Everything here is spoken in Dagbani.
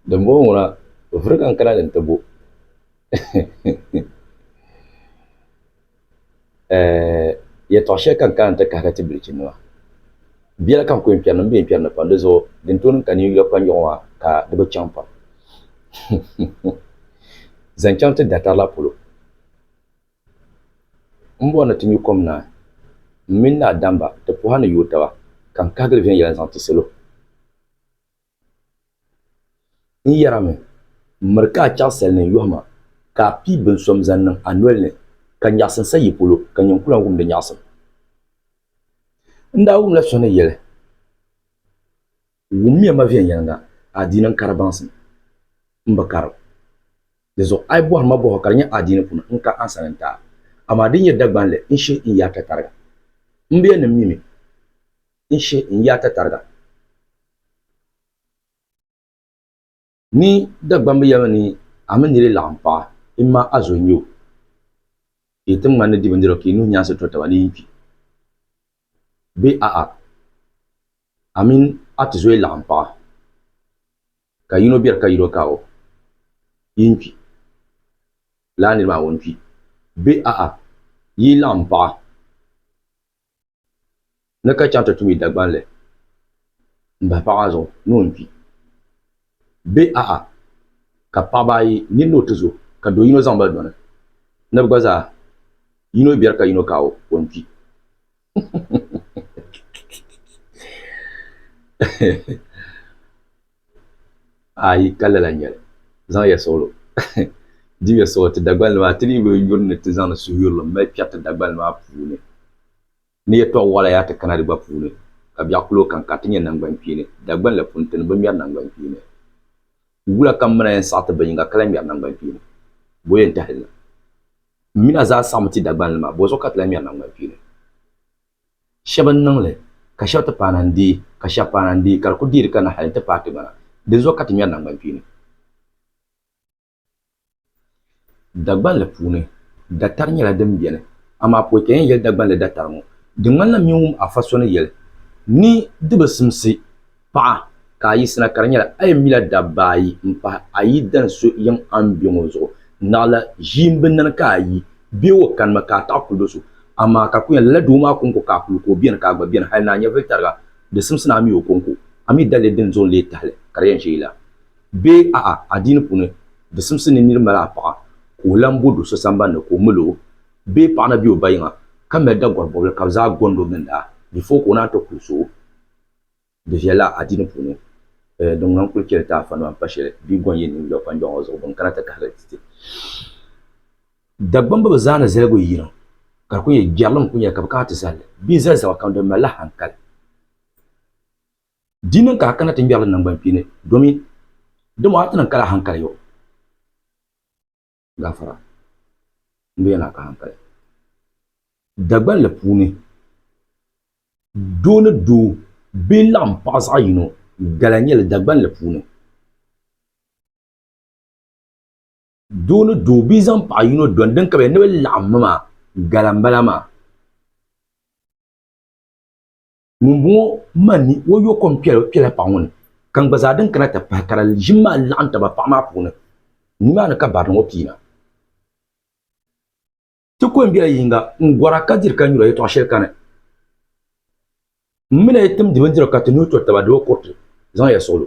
Dimbɔŋɔ ŋuna o vuri ka n kana ni n ti bo yɛtɔɣ shɛli ka n kana nti kahiri ti bilichinnima. Biɛla ka n ku yɛn kpɛri ni m be yɛn kpɛri ni pam di zuɣu din tooi niŋ ka ninyula kpanjɔɣu maa ka di bi chaŋ pam zaŋ chaŋ ti datari la polo. M bɔri ni ti nyu kom naai, m mini naa Damba, ti pɔha ni yooi taba, ka n kahigiri viɛnyɛla n-zaŋ ti salo. N yarimi, m miri ka a chaɣisali ni n yɔhi ma, ka a pii binso m-zaŋ niŋ a noli ni, ka nyaɣisim sa yi polo, ka nyin ku lan wum di nyaɣisim. N daa wumla so ni yɛli, Wummiya ma viɛnyɛliŋga, adiini n-kari baŋsim, m bi karim. Di zuɣu a yi bɔhiri ma bɔhɔ ka di nyɛ adiini puuni, n ka ansa ni n taai. Amaa di nyɛ Dagbaŋ li n shihi n yaa tatariga. M biɛhinim mi mi n shihi n yaa tatariga. Ni Dagbaŋ bi yɛlimi ni a mini niri laɣim paɣa, imma a zo n-nyɛ o, ka yi ti ŋmani ni di bindirigu ka yi nuhi nyaansi to taba ni yin kpi, bee a'a, a mini a ti zoyi laɣim paɣa. Ka yino beri ka yino ka o yi n-kpi, lala niri maa ŋun kpi be a-a yi yi laɣim paɣa ni ka chaŋ ti tum yi Dagbaŋ li m-bahi paɣa maa zuɣu ni o ni kpi be a-a ka paɣaba ayi nini ni o ti zo ka do yino zaŋ ba dɔni ni bɛ gba zaa yino beri ka yino ka o ni kpi. Ayi ka lala nyɛli. Zaŋ ya suɣilo dibi ya suɣilo ti Dagbani nima a ti dii be yuri ni ti zaŋdi suhuyurili m mali kpɛriti Dagbani maa puuni ni yɛltɔɣa waɣila yaa ti kana di gba puuni ka biɛɣu kuli o kanka ti nyɛ nangban kpeeni Dagbani la puuni ti ni bi ŋmɛri nangban kpeeni wula ka m mi na yɛn saɣiti binyiŋa ka lahi ŋmɛri nangban kpeeni bɔ yɛn tahili na. M mina zaa saɣim ti Dagbanli maa, bɔzuɣu ka ti lahi ŋmɛri naŋgban kpeeni. Shɛba n-niŋ li, ka shɛba ti paana n-deei, ka shɛba paana n-deei, ka di kul deeri kanna hal nti paai ti gbana. Dinzuɣu ka ti ŋmɛri naŋgban kpeeni. Dagbanli puuni, datari nyɛla din beni, amaa pɔi ka yɛn yɛli Dagbanli datari ŋɔ. Di ŋmanila m-min wum Afa so ni yɛli ni di bi simsi. Paɣa ka a yiɣisina ka di nyɛla a yɛn mila dabba ayi m-pahi a yidana so yiŋ a ni be ŋɔ zuɣu. Naɣila ʒiimbinnani ka a yi be o kanimi ka a taɣi kuli do so. Amaa ka kuli nya lala doo maa kɔŋko ka a kuli ku o beni ka a gba beni hali ni a nyɛvili tariga di simsi ni a mi o kɔŋko. A mi dalili din zuɣu n lee tahili ka di yɛn ʒe yi la? Bee a'a adiini puuni di simsi ni niri mali a paɣa ka o lan bo do so sambani ni ka o mil o? Bee paɣa na be o ba yiŋa ka mali Dagɔr bɔbili ka bɛ zaa gɔnd o gindaa before ka o naan ti kuli so o? Di viɛlila adiini puuni eh, din ŋan kuli cheli ti a fanima m-pa sheli bee gɔn yi niŋ yɔbu pa n-jɔŋ o zuɣu bini kana ti kahiri ti ti. Dagbamba bi zaa ni zaligi yi yiŋ ka di kuli nyɛ jɛrilim kuli nyɛli ka bi kana ti zali li bee zali zaba kam di malila hankali. Di niŋ ka a kana ti ŋmɛri li naŋgban kpeeni domin dama a ti niŋ ka la hankali yo. gafara n bɛ yana ka hankali Dagbanli puuni doo ni doo bee n laɣam paɣa zaɣ yino gala n nyɛli Dagbanli puuni doo ni doo bee zaŋ paɣa yino doni din kabiya ni bi laɣammi maa gala n bala maa ŋumbɔŋɔ manni o yo kom kpɛla paɣa ŋɔ ni ka n gba zaa din kana ti pahi ka di ʒim maa laɣim taba paɣa maa puuni nimaani ka barinima ŋɔ piina. Ti ko m-bela yiŋga n-gɔra ka diri ka nyura yɛtɔɣ shɛli kani. M mi la yi timdi bindirigu ka ti nuhi to taba di bi kuriti, zaŋya suɣilo.